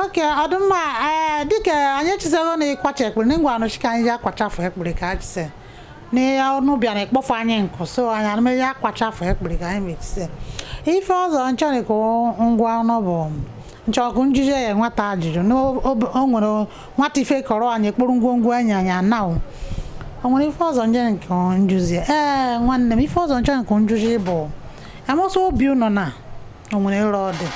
okay ọ dụ mma ee dịka anyị echizago na ịkwacha ekpere na ngwa anụchi ka anyị ji akwachafụ ekpere ka anyị chise na ya ọnụ bịa na ịkpọfụ anyị nkụ so anyị anụmeji akwachafụ ekpere ka anyị mechise ife ọzọ m chọrị ka m gwa ọnụ bụ nchọkụ njije ya nwata ajụjụ na o o- o nwere nwata ife kọrọ anyị kpụrụ ngwongwo enyi anyị anaụ o nwere ife ọzọ nje nke njuzi ee nwanne m ife ọzọ nchọ nke njuzi bụ amụsụ obi ụnọ na o nwere ere ọ dị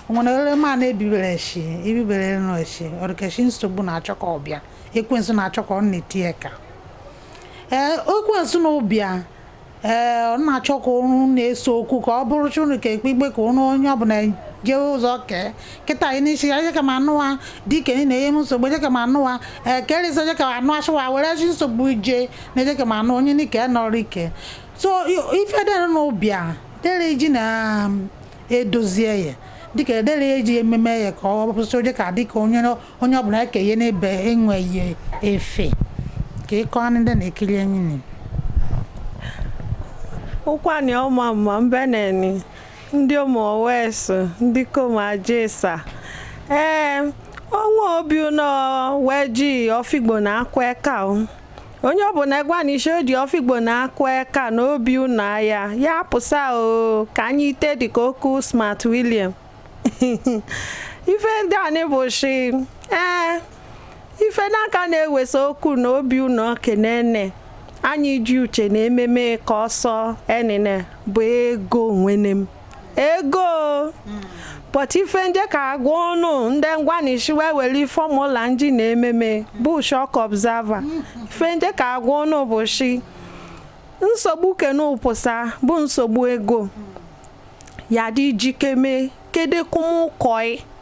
o nwere ere ma na-ebibere echi ibibere ere nọ echi ọrịkechi nsogbu na-achọ ka ọ bịa ekwensu na-achọ ka ọ na-eti eka ee ekwensu na ọ bịa ee ọ na-achọ ka ụrụ na-eso okwu ka ọ bụrụ chụrụ ka ekpe ikpe ka ụrụ onye ọbụla jee ụzọ kee kịta anyị n'isi ya ka ma anụwa dike na ihe m nsogbu eje ka ma anụwa ee kerịsị eje ka ma anụ achụwa were chi nsogbu ije na eje ka ma anụ onye n'ike nọrọ ike so ife dere na ọ bịa Dere iji na um, edozi eye dịka edere eji ememe eye ka ọ bụsị ụdị ka dịka onye onye ọbụla eke ihe n'ebe enweghị ife ka ịkọ anụ ndị na-ekiri enyi ni ụkwani ọma mma mbeneni ndị ụmụ owesu ndị kom ajesa ee ọnwa obi ụnọ wee ji ọfigbo na-akụ eka onye ọ bụla gwa na shi o ji ọfigbo na-akụ eka n'obi ụnọ aya ya pụsa o ka anyị ite dị ka okwu smart william ife ndị anyị bụ shi ee ife na-aka na-ewese okwu na obi ụnọ kenene anyị ji uche na ememe ka ọsọ enine bụ ego nwene m ego pụta ife nje ka agwa ọnụ ndị gwa na shi wee were formula nji na-ememe bụ shock observer ife nje ka agwa ọnụ bụ shi nsogbu kenu pụsa bụ nsogbu ego ya dị ji keme kedekumụkọị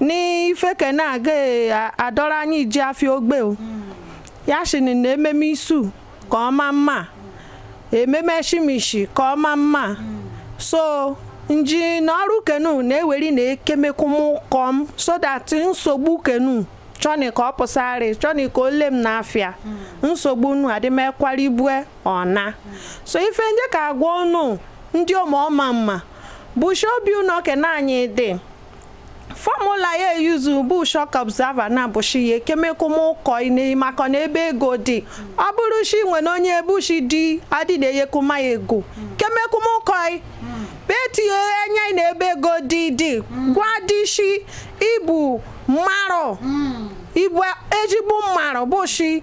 n'ife ke na-aga adọrọ anyị ji afịa ogbe o ya shini na ememe isu ka ọ ma mma ememe shimishi ka ọ ma mma so nji na ọrụ kenu na-eweri na ekemekụm kọm so that nsogbu kenu chọni ka ọ pụsarị chọni ka ole m n'afịa mm. nsogbu unu adịmekwara ibue ọna so ife nje ka agwa unu ndị ọma ọma mma bụ shi obi ụnọ ke na anyị dị formula ya e-use bụ shock observer na bụ shi ya ekemekwụmụkọ ine maka na ebe ego dị ọ bụrụ shi nwene onye bụ shi di adị enyekwuma ya ego kemekwụmụkọ bịa tinye enya ị na ebe ego dị dị ga dị shi ị bụ mmarụ ị bụ ezigbo mmarụ bụ shi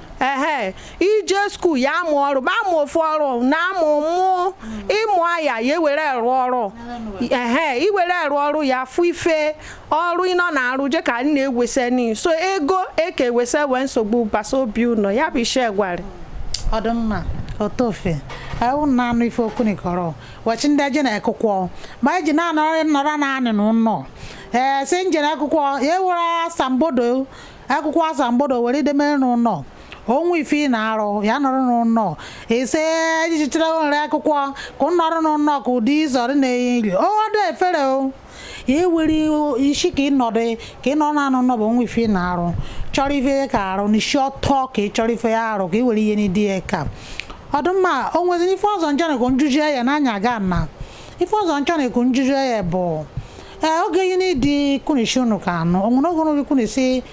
ehe ije skuul ya amụ ọrụ ma amụ ofu ọrụ na amụ mụ ịmụ aya ya ewere rụọ ọrụ ehe iwere rụọ ọrụ ya fụ ife ọrụ ịnọ na arụ je ka nna ewese ni so ego eke ewese wee nsogbu basa obi ụlọ ya bụ ishe gwara ọ dụ mma otofe ewu na anụ ife o kwuni kọrọ wachi ndị aje na akwụkwọ ma eji na-anọrọ nọrọ na anị na ụlọ ee si njere akwụkwọ ya ewere asambodo akwụkwọ asambodo were ideme n'ụlọ onwe ife ị na-arụ ya nọrọ n'ụlọ ise ejichichara nri akwụkwọ ka ụ nọrọ n'ụlọ ka ụdị izọrị na-enye nri odo efere o ya ewere isi ka ị nọdụ ka ị nọ na anụ nọbụ onwe ife ị na-arụ chọrọ ife ka arụ n'isi ọtọ ka ị chọrọ ife ya arụ ka ị were ihe n'idi ya ka ọ dụ mma o nweziri ife ọzọ njọ na-ekwu njuju ya n'anya aga na ife ọzọ njọ na-ekwu njuju ya bụ ee oge ihe n'ịdị kwuni shi unu ka anụ o nwere oge n'oge kwuni si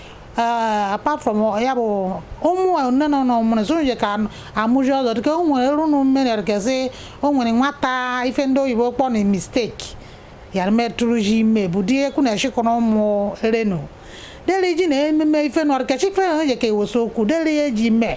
apart from ya bụ ụmụ nne na ụlọ mụrụ so nje ka amụji ọzọ dịka o nwere elu unu mmeri ọdịgasị o nwere nwata ife ndị oyibo kpọ na mistake ya mee tụrụ ime bụ di ekwu na eshikọrọ ụmụ renu deli ji na ememe ife nọrọ ka chikfe na onye ka ewosi okwu deli ya ji mee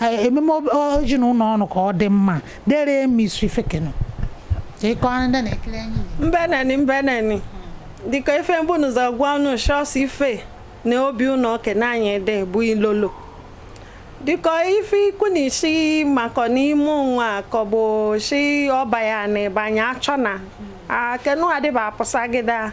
Eh, ememe oji na ụlọ ọrụ ka ọ dị mma dere emi isi fekenu ịkọ ndị na-ekiri anyị mbeneni mbeneni dịka ife mbụ n'ụzọ gwa ọnụ shọs ife na obi ụlọ okene anyị dị bụ ilolo dịka ife i kwuni si maka n'ime nwa ka ọ bụ si ọba ya na ịbanye achọ na akenu adịba apụsagide a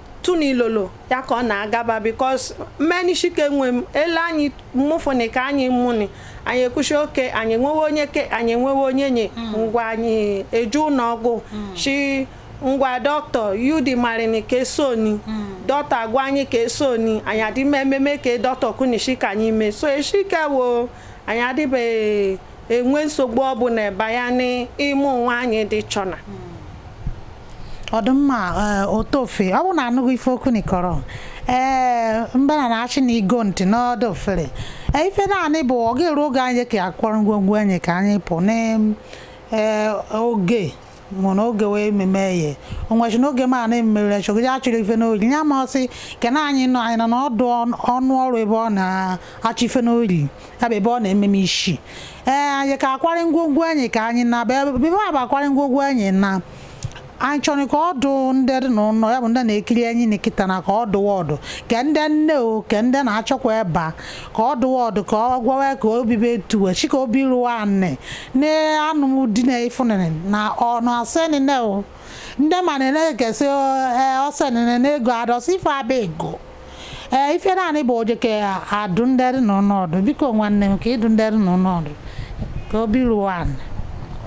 tuni ilolo ya ka ọ na-agaba because mmeni shike nwe m ele anyị mụfụni ka anyị mụni anyị ekwu shi oke anyị enwewe onyeke anyị enwewe onyenye hmm. ngwa anyị eje ụlọ ọgwụ hmm. shi ngwa doctor yudi marini ka esoni hmm. doctor agwa anyị ka esoni anyị adịme ememe ka doctor kwuni shi ka anyị mee so eshike wo anyị adịbeghị enwe nsogbu ọ bụla ebe ya n'ịmụ nwa anyị dị chọna ọ dụ mma eh, otofe ọ bụ na anụkwu ife o kwuni kọrọ ee eh, mbana na-achị na igo ntị n'ọdụ ofere eh, ife naanị bụ ọ ga-eru oge anyị ka akwọrọ ngwongwo anyị ka anyị pụ n'oge mụ na oge wee ememe ye onwechi na oge ma na emere chọgide achịrị ife n'ori ya ma ọsị kena anyị nọ anyị nọ n'ọdụ ọnụ ọrụ ebe ọ na-achị ife n'ori ya bụ ebe ọ na-ememe isi ee anyị ka akwarị ngwongwo anyị ka anyị na ebe a bụ akwarị ngwongwo anyị na anyị chọrọ ka ọdụ ndị dị n'ụlọ ya bụ ndị na-ekiri anyị na kịta na ka ọdụ ọdụ ke ndị nne o ke ndị na-achọkwa ebe a ka ọ dụwa ọdụ ka ọ gwawa ka obibe tuwe chi ka obi rụwa anị na anụm di na ifunene na ọnụ asị nine o ndị ma na na-ekesị ọsị nine na ego adọsị ife abịa ego ee ife naanị bụ oje ka adụ ndị dị n'ụlọ ọdụ biko nwanne m ka ị dụ ndị dị n'ụlọ ọdụ ka obi rụwa anị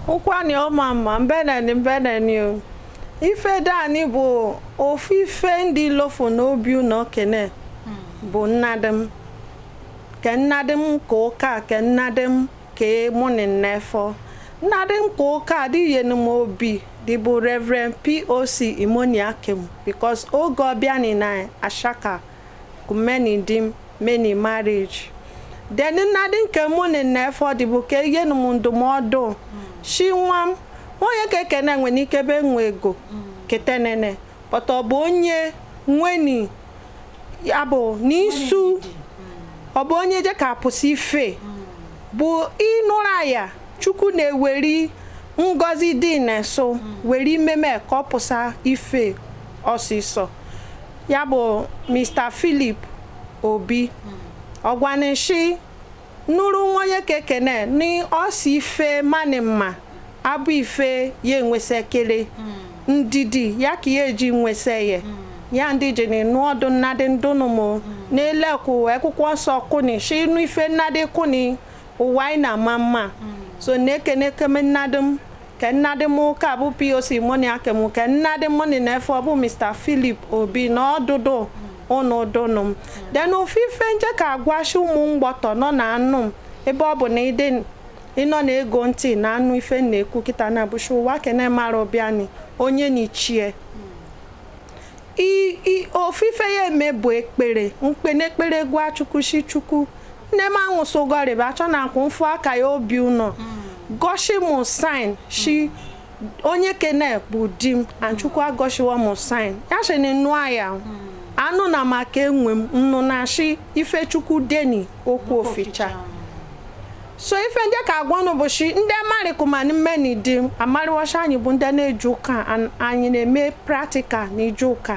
ụkwani ọma mma mbeneni mbeneni o ife dani bụ ofu ife ndị lofu n'obi ụnọ kene bụ nna di m ke nna di m ke ụka ke nna di m ke mụnị n'efọ nna di m ke ụka adị eyenu m obi dịbụ reverend poc imoniakim because oge ọ bịani na ashaka ka mme ni di m meni marriage then nna di m ke mụnị n'efọ dịbụ ka eyenu m ndụmọdụ shi nwa m onye kekene nwere ike be nwe ego ketenene but ọ bụ onye nweni ya bụ n'isu ọ bụ onye je ka pụsa ife bụ ịnụrụ aya chukwu na-eweri ngozi dị n'esu weri meme ka ọ pụsa ife ọsịsọ ya bụ mr philip obi ọ gwa m shi Nụrụ onye kekene ni ọsị ife mani mma abụ ife ya enwese kele ndidi ya ka ya eji nwese ye ya ndị ji ni nụ ọdụ nna di m dụnụ m n'elekwu ekwụkwọ nsọ kuni shi nụ ife nna di kuni ụwa anyị na-ama mma so na-ekene keme nna di m Ke nna di m ụka bụ POC moni akem ke nna di mụnị n'efọ bụ Mr. Philip Obi na ọdụdụ ụnụ dụnụ m. Then ofu ife nje ka agwa shi ụmụ mgbọtọ nọ na-anụ m ebe ọ bụ na ị dị ị nọ na ego ntị na-anụ ife m na-ekwu kịta na bụ shi ụwa kene mara ọ bịani onye ni chi e. I- i- ofu ife ya eme bụ ekpere m kpeni ekpere gwa chukwu shi chukwu nne m anwụsị ụgọrịba achọ na akwụ mfụ aka ya obi ụnọ mm. goshi m sign shi onye kene bụ di m and chukwu egoshiwa m sign ya shi na nụ aya mm. anụ na maka enwe m nnụ na shi ife chukwu deni okwu oficha so ife nje ka agwa unu bụ shi ndị amarịkụmanị mme ni di m amarịwacha anyị bụ ndị na-eje ụka anyị na-eme practical na ije ụka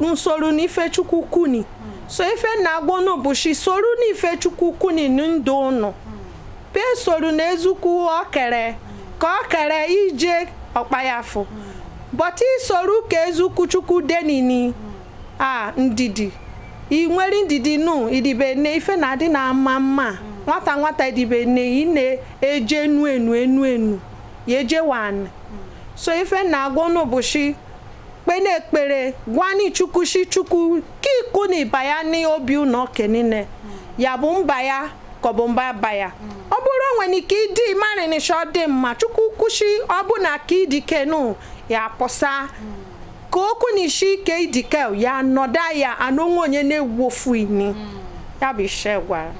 nsoro na ife chukwu kuni so ife na-agwa unu bụ shi soru na ife chukwu kuni ndụ unu pe soru na ezukwu ọkere ka ọkere ije ọkpayafụ bọta i soru ka ezukwu chukwu denini a ndidi ị nwere ndidi nụ i dibe nne ife na-adị na-ama mma nwata nwata i dibe nne ị na-eje enu enu enu enu ya eje wan so ife na-agwa unu bụ shi kpene ekpere gwani Chukwu sị Chukwu ka ikwu na ịba ya n'obi nwoke niile ya bụ mba ya ka ọ bụ mba ba ya ọ bụrụ o nwere ike ịdị ịmarịnịcha ọ dị mma Chukwu kwụsị ọ bụ na ka idike nụ ya pụsa ka okwu na isi ike idike ya nọda ya anụ nwa onye na-ewu ofu ini ya bụ ishe gwara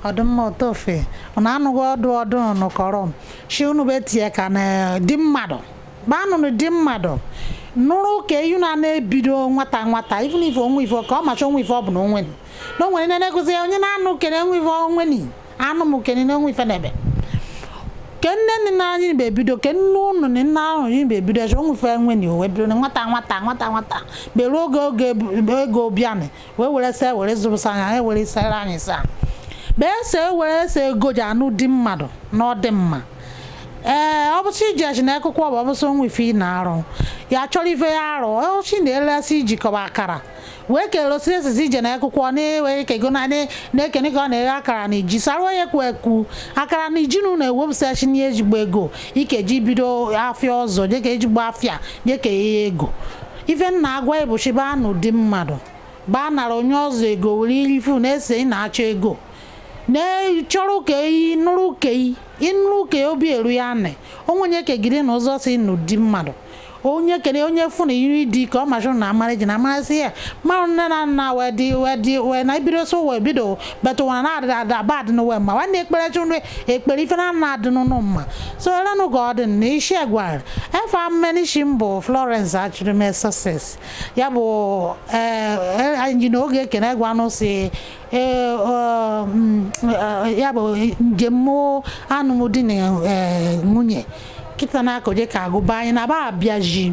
ọdụmma otofe ọ na-anụghị ọdụ ọdụ nụkọrọ m shi unu bụ etinye aka na di mmadụ gbanụnụ di mmadụ nụrụ ke yi unu na-ebido nwata nwata even if onwe ife ka ọ macha onwe ife ọ bụla onwe na onwere ndị na-egozi ya onye na-anụ kene onwe ife onwe ni anụ m kene na onwe ife n'ebe ke nne na nna anyị mgbe ebido ke nne ụnụ na nne ahụ anyị mgbe ebido chọ onwe ife enwe ni owe bido na nwata nwata nwata nwata beruo oge oge ego bianị wee were se were zụrụsa anya anyị were sere anyị sa bee se were se ego ji anụ di mmadụ na ọ dị mma ee ọ bụsị iji achị na akwụkwọ bụ ọbụsị nwa ife ị na-arụ ya chọrọ ife ya arụ ọchị na-elesị ijikọba akara wee kere osi esizi ije na akwụkwọ na-ewe kego na na-ekene ka ọ na-eghe akara na ji saruo ya kwu ekwu akara na ji na ewepụsachi na ejigbo ego ike ji bido afịa ọzọ dịka ejigbo afịa dịka ihe ego ife m na-agwa ị bụ chịba anụ di mmadụ baa nara onye ọzọ ego were irifu na-ese ị na-achọ ego na-chọrọ ke yi nụrụ ke yi ị nụrụ ke obi eru ya anị onwenye ke gị dị na ụzọ si nụ di mmadụ onye kene onye fụ na iri di ka ọ machụ na amarị ji na amarasị ya mmanụ nne na nna wee dị wee dị wee na ibido so wee bido but ụwa na adịrị adị aba adịnụwe mma nwanne ekpere chụnụ ekpere ife na na adịnụ unu mma so elenụ ka ọ dị na isi egwara efa m n'ishi m bụ Florence Achirime Success ya bụ anyị na oge ekene gwanụ si ya bụ njem anụm di na nwunye kịta na-akọje ka agụba anyị na ba abịaji